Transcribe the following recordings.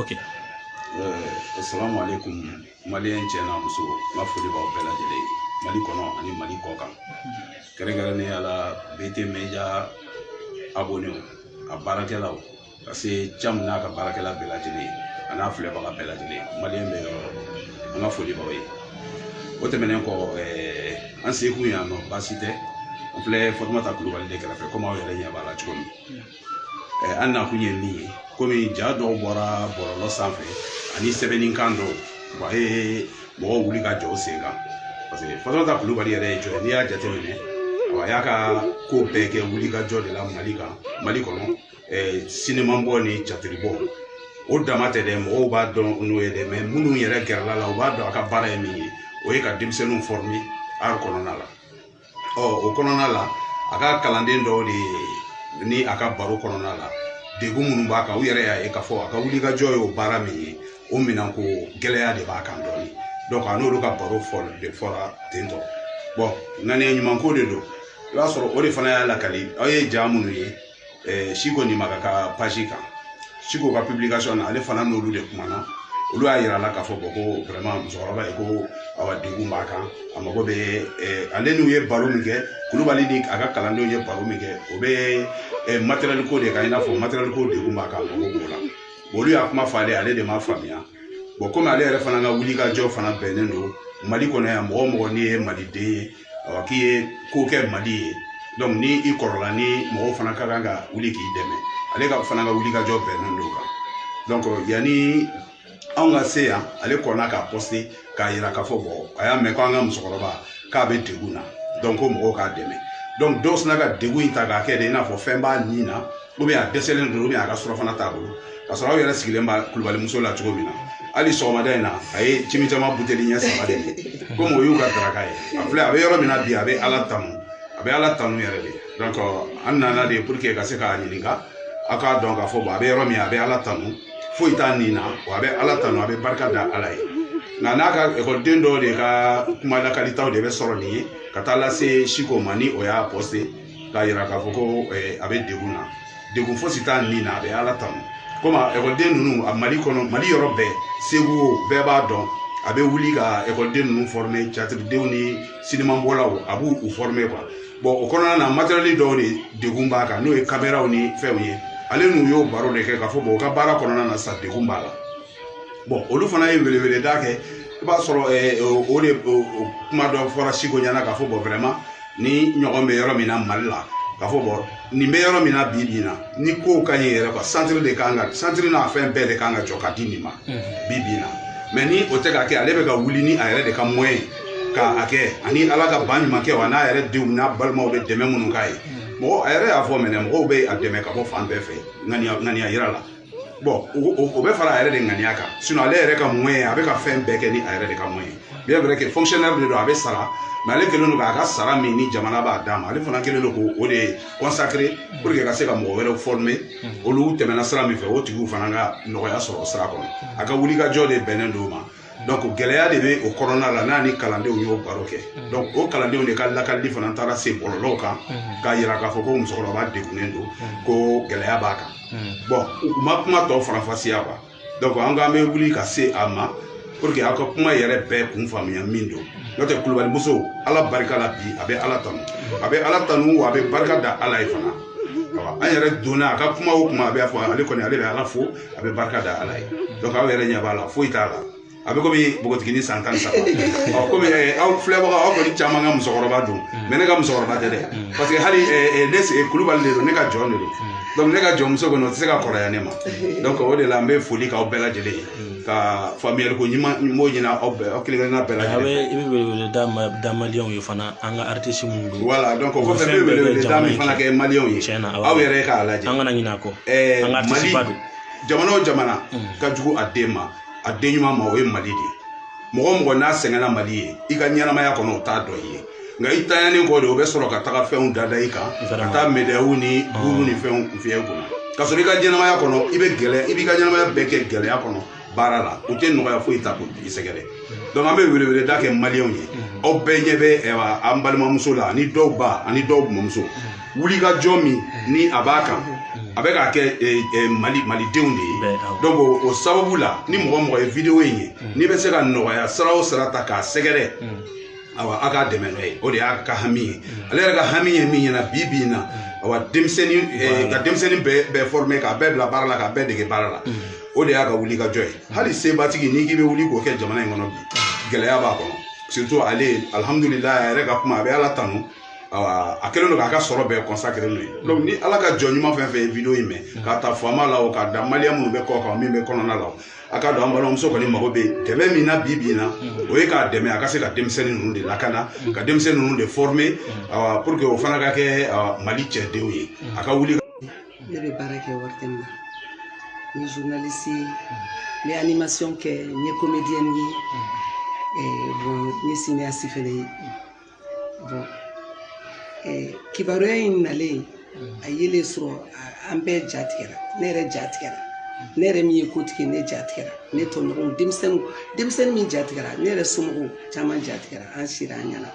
ok assalamu alaikum maliyɛn cɛ n'a muso n ka foli b'aw bɛɛ lajɛlen ye mali kɔnɔ ani mali kɔkan kɛrɛnkɛrɛnnenya la bt media abonew a baarakɛlaw ka se cam n'a ka baarakɛla bɛɛ lajɛlen ye an'a filɛbaga bɛɛ lajɛlen maliyɛn bɛ yɔrɔ an ka foli b'aw ye o tɛmɛnen kɔ an sekun yan nɔ baasi tɛ an filɛ fatumata kulubali de kɛrɛfɛ komi aw yɛrɛ ɲɛ b'a la cogo min an nakun ye min ye komi ja dɔw bɔra bɔlɔlɔ sanfɛ ani sɛbɛnnikan dɔw a ye mɔgɔw wuli ka jɔ sen kan paseke fatumata kulubali yɛrɛ ye jɔn n'i y'a jateminɛ a y'a ka ko bɛɛ kɛ wulikajɔ de la mali kan mali kɔnɔ sinimabɔ ni catiribɔ o dama tɛ dɛ mɔgɔw b'a dɔn n'o ye dɛ mɛ minnu yɛrɛ gɛrɛl'a la u b'a dɔn a ka baara ye min ye o ye ka denmisɛnninw fɔrime art kɔnɔna la ɔ o kɔnɔna la a ka kalanden dɔw de ni a ka baro kɔnɔna la degun minnu b'a kan u yɛrɛ y'a ye k'a fɔ a ka wulikajɔ ye o baara min ye o minɛnko gɛlɛya de b'a kan dɔɔni donc a n'olu ka baro fɔ de fɔra ten tɔ bɔn ŋaniya ɲumanko de don i b'a sɔrɔ o de fana y'a lakali aw ye ja minnu ye eh, siko nimaka ka page kan siko ka publication na ale fana n'olu de kumana olu y'a yir'a la k'a fɔ bɔn ko vraiment musokɔrɔba in ko awa degun b'a kan a mago bɛ eh, ale n'u ye baro min kɛ kulubali ni a ka kalandenw ye baro min kɛ o bɛ eh, matériel ko de kan i n'a fɔ matériel ko degun b'a kan a mago b'o la olu y'a kuma fɔ ale ale de m'a faamuya bɔn komi ale yɛrɛ fana ka wulikajɔ fana bɛnnen don mali kɔnɔ yan mɔgɔ mɔgɔ n'i ye maliden ye ɔ k'i ye ko kɛ mali ye donc ni i kɔrɔla ni mɔgɔw fana ka kan ka wuli k'i dɛmɛ ale ka fana ka wulikajɔ bɛnnen don o kan donc yanni anw ka se yan ale kɔnna k'a pɔste k'a yira k'a fɔ bɔn a y'a mɛn ko an ka musokɔrɔba k'a bɛ degun na donc ko mɔgɔw k'a dɛmɛ donc dɔw sina ka degun in ta k'a kɛ de i n'a fɔ fɛn b'a nin na ou bien a dɛsɛlen don ou bien a ka surafana t'a bolo ka sɔrɔ aw yɛrɛ sigilen b'a kulubali muso la cogo min na hali sɔgɔmada in na a ye cimi caman buteli ɲɛ saba de ye komi o y'u ka daraka ye a filɛ a bɛ yɔrɔ min na bi a bɛ ala tanu a bɛ ala tanu yɛrɛ de donc an nana de pour que ka se k'a ɲininka aw k'a dɔn k'a fɔ bon a bɛ yɔrɔ min a bɛ ala tanu foyi t'a nin na wa a bɛ ala tanu a bɛ barika da ala ye nka n'a ka ekɔliden dɔw de ka kuma lakalitaw de bɛ sɔrɔ nin ye ka taa lase siko ma ni o y'a pɔste k'a yira k'a fɔ ko a bɛ degun na degun fosi t'a ni na a bɛ ala tanu komi ekɔliden ninnu a mali kɔnɔ mali yɔrɔ bɛɛ segu bɛɛ b'a dɔn a bɛ wuli ka ekɔliden ninnu fɔrime catiridenw ni sinimabɔlaw a b'u fɔrime quoi bɔn o kɔnɔna na matériel dɔw de degun b'a kan n'o ye kameraw ni fɛnw ye ale n'u y'o baro de kɛ k'a fɔ bɔn u ka baara kɔnɔna na sa degun b'a la bɔn olu fana ye weleweleda kɛ i b'a sɔrɔ eh, o o de o o kuma dɔ fɔra siko ɲɛna k'a fɔ bɔn vraiment nin ɲɔgɔn bɛ yɔrɔ min na mali la k'a fɔ bɔn nin bɛ yɔrɔ min na bi bi in na ni kow ka ɲi yɛrɛ quoi centre de kan ka centre n'a fɛn bɛɛ de kan ka jɔ ka di nin ma bi bi in na mɛ ni o tɛ ka kɛ ale bɛ ka wuli ni a yɛrɛ de ka moyen ye ka a kɛ ani ala ka ban ɲuman kɛ wa n'a yɛrɛ denw n'a balimaw bɛ dɛmɛ minnu k'a ye mɔgɔ a yɛrɛ y'a fɔ mɛnɛ mɔgɔw bɛ a dɛmɛ ka bɔ fan bɛɛ fɛ ŋaniya ŋaniya yira la bɔn o bɛ fara a yɛrɛ de ŋaniya kan sinon ale yɛrɛ ka moyen ye a bɛ ka fɛn bɛɛ kɛ ni a yɛrɛ de ka moyen ye bien vrai que fonctionnaire de don a bɛ sara mais ale kɛlen don k'a ka sara min ni jamana b'a d'a ma ale fana kɛlen don k'o de consacrer pour que ka se ka mɔgɔ wɛrɛw former olu tɛmɛna sira min fɛ o tigiw fana ka nɔgɔya sɔrɔ o sira kɔnɔ a ka wulikajɔ de bɛnnen don o ma donc gɛlɛya de bɛ o kɔnɔna la n'a ni kalandenw y'o baro kɛ donc o kalandenw de ka lakalili fana taara se bɔlɔlɔw kan k'a yira k'a fɔ ko musokɔrɔba degunnen don ko gɛlɛya b'a kan bɔn u ma kuma tɔ faranfasiya quoi donc an k'an bɛ wuli ka se a ma pour que aw ka kuma yɛrɛ bɛɛ kun faamuya min don n'o tɛ kulubali muso ala barika la bi a bɛ ala tanu a bɛ ala tanu wa a bɛ barika da ala ye fana an yɛrɛ donna a ka kuma o kuma a bɛ fɔ ale kɔni ale bɛ ala fo a bɛ barika da ala ye donc aw yɛrɛ ɲɛ b'a la foyi t'a la a bɛ komi npogotigini san tan ni saba ɔ komi eh, aw filɛbagaw aw kɔni caman ka musokɔrɔba don mm. mais ne ka musokɔrɔba tɛ dɛ mm. parce que hali eh, eh, ne se kulubali de don ne ka jɔn de don mm. donc ne ka jɔnmuso kɔni o tɛ se ka kɔrɔya ne ma donc o de la n bɛ foli k'aw bɛɛ lajɛlen ye ka faamuyali ko ɲuman n b'o ɲini aw bɛɛ aw kelen kelenna bɛɛ lajɛlen i bɛ wele wele da ma da maliyɛnw ye fana an ka aritisi minnu don wala donc o Olu kɔfɛ fɛn ne bɛɛ bɛ wele da jamana min in fana kɛ. kɛ maliyɛnw ye Tiɲɛ na, awɔ. aw yɛrɛ k'a lajɛ an kana ɲinɛ a kɔ Ɛɛ, an ka mali aritisiba don jamana o jamana ka jugu a den ma a den ɲuman ma o ye mali de ye mɔgɔ o mɔgɔ n'a sɛgɛnna mali ye i ka ɲɛnamaya kɔnɔ o t'a dɔn i ye nka i tanyanen kɔ de o bɛ sɔrɔ ka taga fɛnw dada i kan ka Vraiment. taa medayiw ni buru ni fɛnw fiyɛ i kunna ka sɔrɔ i ka ɲɛnamaya kɔnɔ i bɛ gɛlɛya i b'i ka ɲɛnamaya bɛɛ kɛ gɛlɛya kɔnɔ baara la u tɛ nɔgɔya foyi ta k'i sɛgɛrɛ donc an bɛ weleweleda kɛ maliyɛnw ye aw bɛɛ ɲɛ bɛ an balimamuso la ani dɔw ba ani dɔw mɔmuso wulikajɔ min ni a b'a kan a bɛ k'a kɛ eh, eh, mali malidenw de ye donc o sababu la ni mɔgɔ o mɔgɔ ye video in ye n'i bɛ se ka nɔgɔya sira o sira ta k'a sɛgɛrɛ awa a k'a dɛmɛ n'o ye o de y'a ka hami ye mm. ale yɛrɛ ka hami ye min ɲɛna bi bi in na mm. awa denmisɛnnin eh, ka denmisɛnnin bɛɛ forme k'a bɛɛ bila baara la k'a bɛɛ dege baara la mm. o de y'a ka wulikajɔ ye hali sebatigi n'i k'i bɛ wuli k'o kɛ jamana in kɔnɔ bi gɛlɛya b'a kɔnɔ surtout ale alhamdulila a yɛrɛ ka kuma a bɛ ala tanu awa a kɛlen don k'a ka sɔrɔ bɛɛ consacré n'o ye donc ni ala ka jɔn ɲuman fɛn o fɛn ye video in mɛn k'a ta faama la o k'a da maliyɛn minnu bɛ kɔkan min bɛ kɔnɔna la o a k'a dɔn an balimamuso kɔni mago bɛ dɛmɛ min na bi bi na o ye k'a dɛmɛ a ka se ka denmisɛnnin ninnu de lakana ka denmisɛnnin ninnu de former awa pour que o fana ka kɛ awa, mali cɛdenw ye a ka wuli ne bɛ baara kɛ ORTM na n ye journaliste ye n bɛ animation kɛ n ye comédienne ye ɛɛ bon n ye cinéaste fana ye kibaruya in nalen a ye ne sɔrɔ an bɛɛ ja tigɛra ne yɛrɛ ja tigɛra ne yɛrɛ min ye kotigi ne ja tigɛra ne tɔɲɔgɔnw denmisɛnninw denmisɛnnin min ja tigɛra ne yɛrɛ somɔgɔw caman ja tigɛra an siranna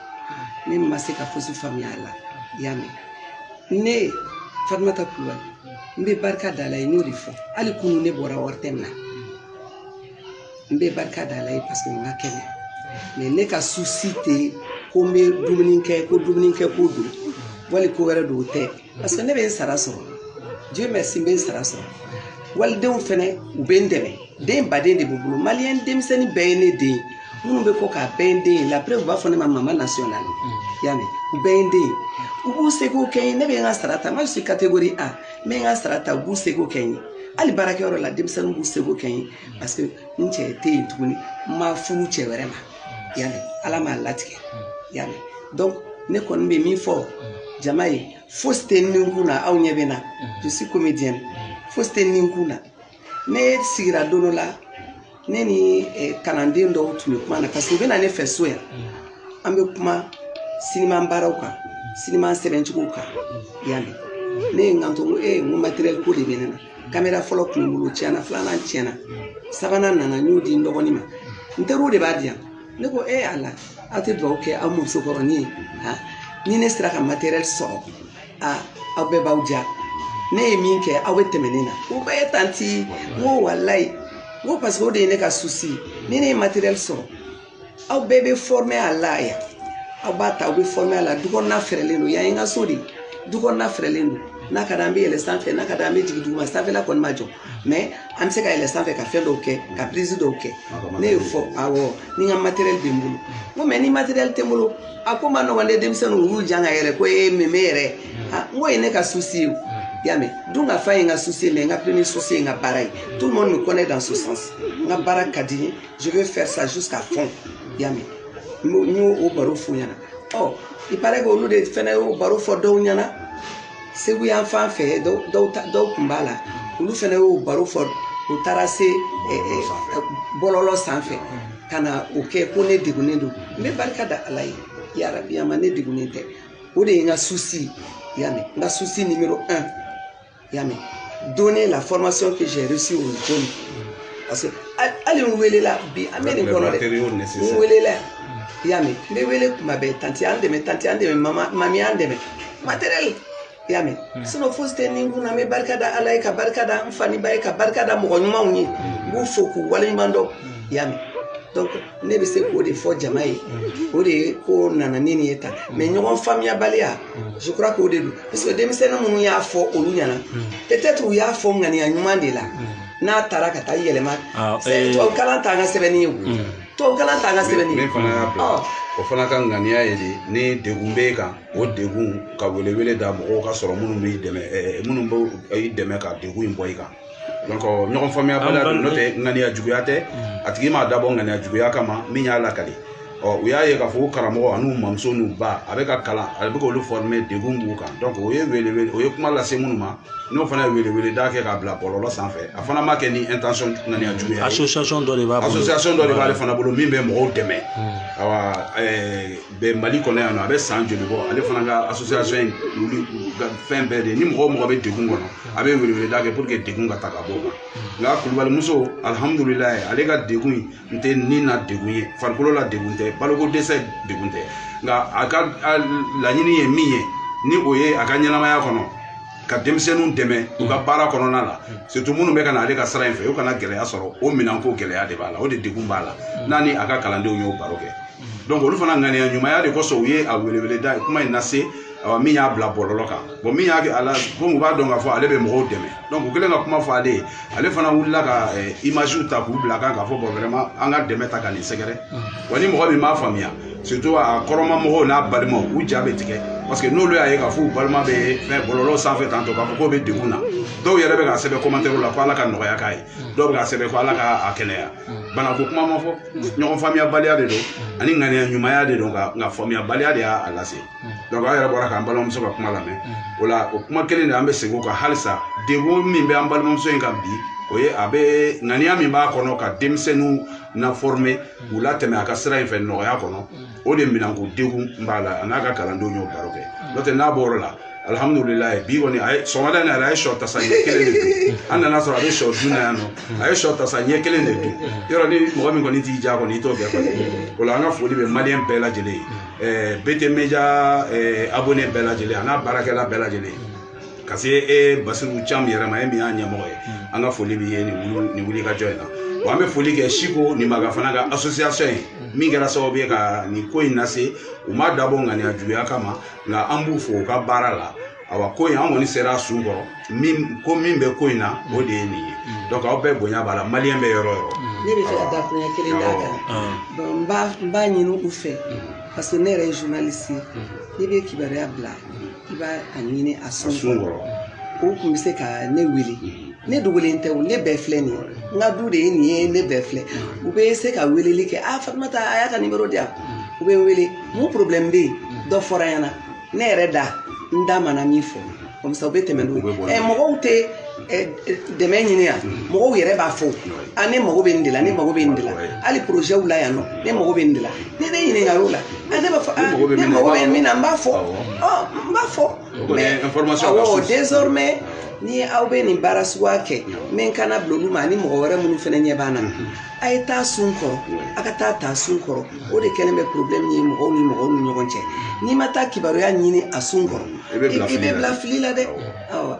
ne ma se ka fosi faamuya a la i y'a mɛn ne fatumata kulubali n bɛ barika da ala ye n y'o de fɔ hali kunu ne bɔra ORTM na n bɛ barika da ala ye parce que n ka kɛnɛ mais ne ka souci tɛ ko n bɛ dumuni kɛ ko dumunikɛko don wali ko wɛrɛ don o tɛ parce que ne bɛ n sara sɔrɔ dieu merci n bɛ n sara sɔrɔ walidenw fɛnɛ u bɛ n dɛmɛ den baden de b'u bolo maliyɛn denmisɛnnin bɛɛ ye ne den ye minnu bɛ kɔkan a bɛɛ ye n den ye la preuve u b'a fɔ ne ma mama nationale mm. y'a mɛn u bɛɛ ye n den ye u b'u seko kɛ n ye ne bɛ n ka sara ta moi je suis catégorie a n bɛ n ka sara ta u b'u seko kɛ n ye hali baarakɛyɔrɔ la denmisɛnninw b'u seko kɛ n ye parce que n cɛ tɛ yen tuguni n ma furu cɛ wɛrɛ ma yanni ala m'a latigɛ yanni donc ne kɔni bɛ min fɔ jama ye fosi tɛ n ni kun na aw ɲɛ bɛ n na je suis comédienne fosi tɛ n ni kun na ne sigira don dɔ la ne ni eh, kalanden dɔw tun bɛ kuma na parce que u bɛ na ne fɛ so yan an bɛ kuma siniman baaraw kan siniman sɛbɛncogow kan yanni ne ye n kanto n ko ee n ko matériel ko de bɛ ne na kamera fɔlɔ tun bɛ n bolo tiɲɛna filanan tiɲɛna sabanan nana n y'o di n dɔgɔnin ma n teriw de b'a di yan ne ko ee ala aw tɛ dugawu kɛ aw musokɔrɔnin ye ha ni ne sera ka matériel sɔrɔ aa aw bɛɛ b'aw jija ne ye min kɛ aw bɛ tɛmɛ ne na ko bɛɛ ye tanti n ko walayi n ko parce que o de ye ne ka souci ni ne ye matériel sɔrɔ aw bɛɛ bɛ former a la yan aw b'a ta aw bɛ former a la du kɔnɔna fɛrɛlen don yan ye n ka so de ye du kɔnɔna fɛrɛlen don n'a ka d'an bɛ yɛlɛn sanfɛ n'a ka d'an bɛ jigin duguma sanfɛla kɔni ma jɔ mais an bɛ se ka yɛlɛ sanfɛ ka fɛn dɔw kɛ ka prise dɔw kɛ ne y'o fɔ awɔ ni n ka matériel bɛ n bolo n ko mais ni matériel tɛ n bolo a ko ma nɔgɔn dɛ denmisɛnninw u y'u jan ka yɛlɛ ko ee meme yɛrɛ ah, n k'o ye ne ka souci ye o y'a mɛn dun ka fa ye n ka souci ye mais n ka premier souci ye n ka baara ye tout le monde me connaît dans ce sens n ka baara ka di n ye je veux faire ça jusqu'à fond y'a mɛn n y'o baro f'u ɲɛna ɔ il paraît que olu de fana y'o baro fɔ dɔw ɲɛna segu yan fan fɛ dɔw dɔw ta- dɔw tun b'a la olu fana y'o baro fɔ u taara se ɛ, ɛ, ɛ, bɔlɔlɔ sanfɛ ka na o kɛ ko ne degunnen don n bɛ barika da ala ye yarabi a ma ne degunnen tɛ o de ye n ka susi y'a mɛn n ka susi numéro un y'a mɛn donner la formation que j'ai reçue aux jeunes. Parce que hali- hali n welela bi an bɛ nin kɔnɔ des matériaux nécessaires. voilà y'a mɛn n bɛ wele kuma bɛɛ tanti an dɛmɛ tanti an dɛmɛ mama mami an dɛmɛ matériel i y'a mɛn hmm. sinon fosi tɛ ne kunna n bɛ barika da ala ye ka barika da n fa ni n ba ye ka barika da mɔgɔ ɲumanw ye n b'u fo k'u waleɲuman dɔn hmm. i y'a mɛn donc ne bɛ se k'o de fɔ jama ye hmm. o de ye ko nana ni nin ye tan mais ɲɔgɔn faamuyabaliya je crois k'o de don parce que denmisɛnnin minnu y'a fɔ olu ɲɛna peut être u y'a fɔ ŋaniya ɲuman de la n'a taara ka taa yɛlɛma ah, eh. tubabu kalan t'an ka sɛbɛnni ye tubabu kalan t'an ka sɛbɛnni ye o fana ka ŋaniya ye de ni degun b'e kan o degun ka welewele da mɔgɔw ka sɔrɔ minnu b'i dɛmɛ minnu bɛ i dɛmɛ ka degun in bɔ i kan ɲɔgɔn faamuyabaliya don n'o tɛ ŋaniya juguya tɛ a tigi m'a dabɔ ŋaniya juguya kama min y'a lakali ɔ u y'a ye k'a fɔ ko karamɔgɔ an'u mamuso n'u ba a bɛ ka kalan a bɛ k'olu former degun b'u kan donc o ye welewele o ye kuma lase minnu ma n'o fana ye welewele da kɛ k'a bila bɔlɔlɔ sanfɛ a fana ma kɛ ni intention ŋaniya juguya ye asosiyasɔn dɔ de b'a bolo asosiyasɔn dɔ de b'ale fana bolo min bɛ mɔgɔw dɛmɛ awa ɛɛ bɛn mali kɔnɔ yan nɔ a bɛ san joli bɔ ale fana ka asosiyasɔn in wuli ka fɛn bɛɛ de ye ni mɔgɔ mɔgɔ bɛ degun kɔnɔ a bɛ weleweleda kɛ pour que degun ka ta ka bɔ o kan nka kulubali muso alihamudulilayi ale ka degun in tɛ ni na degun ye farikolo la degun tɛ baloko dɛsɛ degun tɛ nka a ka laɲini ye min ye ni o ye a ka ɲɛnamaya kɔnɔ ka denmisɛnninw dɛmɛ u ka baara kɔnɔna la surtout minnu bɛ ka na ale ka sira in fɛ u kana gɛlɛya sɔrɔ o minɛnko gɛlɛya de b'a la o de degun b'a la n'a ni a ka kalandenw y'o baro kɛ donc olu fana ŋaniya ɲumanya de kosɔn u ye a weleweleda ye kuma in lase awa min y'a bila bɔlɔlɔ kan bɔn min y'a kɛ a la comme u b'a dɔn k'a fɔ ale bɛ mɔgɔw dɛmɛ donc u kɛlen ka kuma fɔ ale ye ale fana wulila ka eh, imagew ta k'u bila kan k'a fɔ bɔn vraiment an ka dɛmɛ ta ka nin sɛgɛrɛ wa ni mɔgɔ min m'a faamuya surtout a kɔrɔma mɔgɔw n'a balimaw u ja bɛ tigɛ parce que n'olu y'a ye k'a fɔ u balima bɛ fɛn bɔlɔlɔ sanfɛ tantɔ k'a fɔ k'o bɛ degun na dɔw yɛrɛ bɛ k'a sɛbɛn commentaire la ko ala ka nɔgɔya k'a ye dɔw bɛ k'a sɛbɛn ko ala ka a kɛnɛya banako kuma ma fɔ ɲɔgɔn faamuyabaliya de don ani ŋaniya ɲumanya de don nka faamuyabaliya de y'a lase donc an yɛrɛ bɔra k'an balimamuso ka kuma lamɛn o la o kuma kelen de an bɛ segin o kan halisa degun min bɛ an balimamuso in kan bi o ye a bɛ ŋaniya min b'a kɔnɔ ka denmisɛnninw na former k'u latɛmɛ a ka sira in fɛ nɔgɔya kɔnɔ o de minɛnko degun b'a la a n'a ka kalandenw y'o baro kɛ n'o tɛ n'a bɔr'o la alihamudulilayi bi kɔni a ye sɔgɔmada in na yɛrɛ a ye sɔ tasa ɲɛ kelen de dun an nan'a sɔrɔ a bɛ sɔ dun na yan nɔ a ye sɔ tasa ɲɛ kelen de dun yɔrɔ ni mɔgɔ min kɔni t'i diya kɔni i t'o kɛ kɔni o la an ka foli bɛ maliyɛn bɛɛ lajɛlen ye ɛɛ BT média abonɛ bɛɛ lajɛlen a n'a baarakɛla bɛɛ lajɛlen ka se e basiru cam yɛrɛ ma e min y'a ɲɛmɔgɔ ye an ka foli b'i ye nin wuli- nin wulikajɔ in na wa an bɛ foli kɛ siko nin maga fana ka association ye min kɛra sababu ye ka nin ko in lase u m'a dabɔ ŋaniya juguya kama nka an b'u fo u ka baara la awa ko in an kɔni sera a sun kɔrɔ min ko min bɛ ko in na o de ye nin ye donc aw bɛɛ bonya b'a la maliyɛn bɛ yɔrɔ o yɔrɔ ne b'a fɛ ka dakuruɲɛ kelen d'a kan Bon, n b'a n b'a ɲini u fɛ parce que ne yɛrɛ ye journaliste ye n'i bɛ kibaruya bila i b'a ɲini a sun kɔrɔ u tun bɛ se ka ne wele ne dogolen tɛ ne bɛɛ filɛ nin ye n ka du de ye nin ye ne bɛɛ filɛ u bɛ se ka weleli kɛ a fatumata a y'a ka nimoro di yan u bɛ n wele mun porobilɛmu bɛ yen dɔ fɔra yan nɔ ne yɛrɛ da n da mana min fɔ comme ça u bɛ tɛmɛ n'o ye mɔgɔw tɛ dɛmɛ ɲini yan mɔgɔw yɛrɛ b'a fɔ a ne mago bɛ nin de la ne mago bɛ nin de la hali porozɛw la yan nɔ ne mago bɛ nin de la ni ne ɲininka o la ne b'a fɔ ne mago bɛ min na n b'a fɔ n b'a fɔ awɔ désormais ni aw bɛ nin baara suguya kɛ n bɛ n kanna bila olu ma ani mɔgɔ wɛrɛ minnu fana ɲɛ b'an na a ye taa sun kɔrɔ a ka taa taa sun kɔrɔ o de kɛlen bɛ problème ye mɔgɔw ni mɔgɔw ni ɲɔgɔn cɛ n'i ma taa kibaruya ɲini a sun kɔrɔ i bɛ bila fili la dɛ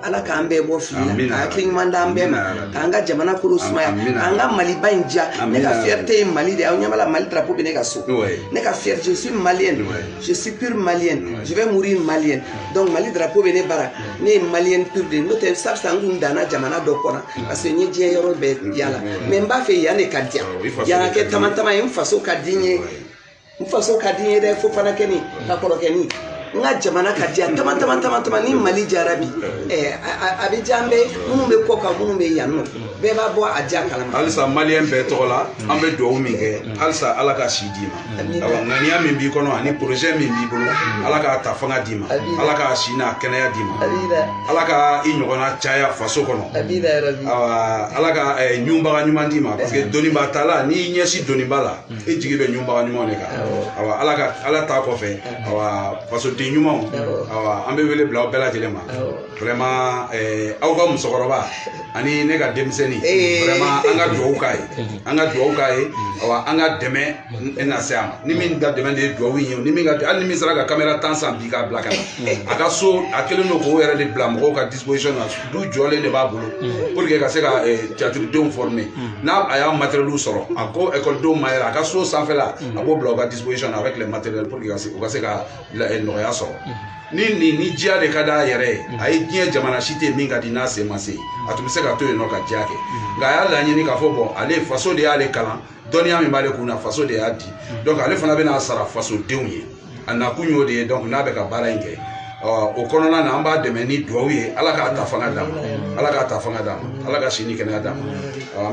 ala k'an bɛɛ bɔ fili la ka hakili ɲuman d'an bɛɛ ma k'an ka jamana kɔnɔ sumaya k'an ka maliba in diya ne ka fierté ye mali de ye aw ɲɛ b'a la mali drapeau bɛ ne ka so ne ka fierté je suis malien je suis pur malien je vais mourir malien donc mali drapeau bɛ ne bara ne ye malien pur de ye n'o tɛ sa sa n kun danna jamana dɔ kɔnɔ parce que n ye diɲɛ yɔrɔ bɛɛ yala mais n b'a fɛ yan de ka diya yan ka kɛ tamatama ye n faso ka di n ye n faso ka di n ye dɛ fo fana kɛni ka kɔrɔ kɛni n ka jamana ka diya tama tama tama tama ni mali diyara bi ɛɛ a bɛ diya an bɛ minnu bɛ kɔkan minnu bɛ yan nɔ bɛɛ bɛ bɔ a diya kalama. halisa maliyɛn bɛɛ tɔgɔ la an bɛ dugawu min kɛ halisa ala ka si d'i ma awa ŋaniya min b'i kɔnɔ ani porozɛ min b'i bolo ala k'a ta fanga d'i ma ala k'a si n'a kɛnɛya d'i ma ala ka i ɲɔgɔnna caya faso kɔnɔ awa ala ka ɲunbaga ɲuman d'i ma parce que doniba ta la n'i ɲɛsin doniba la. e jigi bɛ ɲunbaga ɲumanw de kan awa ala ka ala ta kɔfɛ awa fasoden ɲumanw awa an bɛ wele bila aw bɛɛ lajɛlen ma vraiment eh, aw ka musokɔrɔba ani ne ka denmisɛnnin Eh. vraiment an ka dugawu k'a ye an ka dugawu k'a ye awa an ka dɛmɛ n- nase a ma ni min ka dɛmɛ de ye dugawu in ye ni min ka hali ni min sera ka kamera tan san bi k'a bila ka na a ka so a kɛlen don k'o yɛrɛ de bila mɔgɔw ka disposition na du jɔlen de b'a bolo pour que ka se ka eh, tiyatiridenw former n'a a y'a matériel sɔrɔ a ko ekɔlidenw ma yɛrɛ a ka so sanfɛla a b'o bila u ka disposition na avec les matériels pour que u ka se ka nɔgɔya sɔrɔ ni nin ni diya de ka d'a yɛrɛ ye a ye diɲɛ jamana si tɛ min ka di n'a sen ma se a tun bɛ se ka to yen nɔ ka diya kɛ nka a y'a laɲini k'a fɔ bɔn ale faso de y'ale kalan dɔnniya min b'ale kun na faso de y'a di donc ale fana bɛna sara fasodenw ye a nakun y'o de ye donc n'a bɛ ka baara in kɛ o kɔnɔna na an b'a dɛmɛ ni duwawu ye ala k'a ta fanga d'a ma ala k'a ta fanga d'a ma ala ka si ni kɛnɛya d'a ma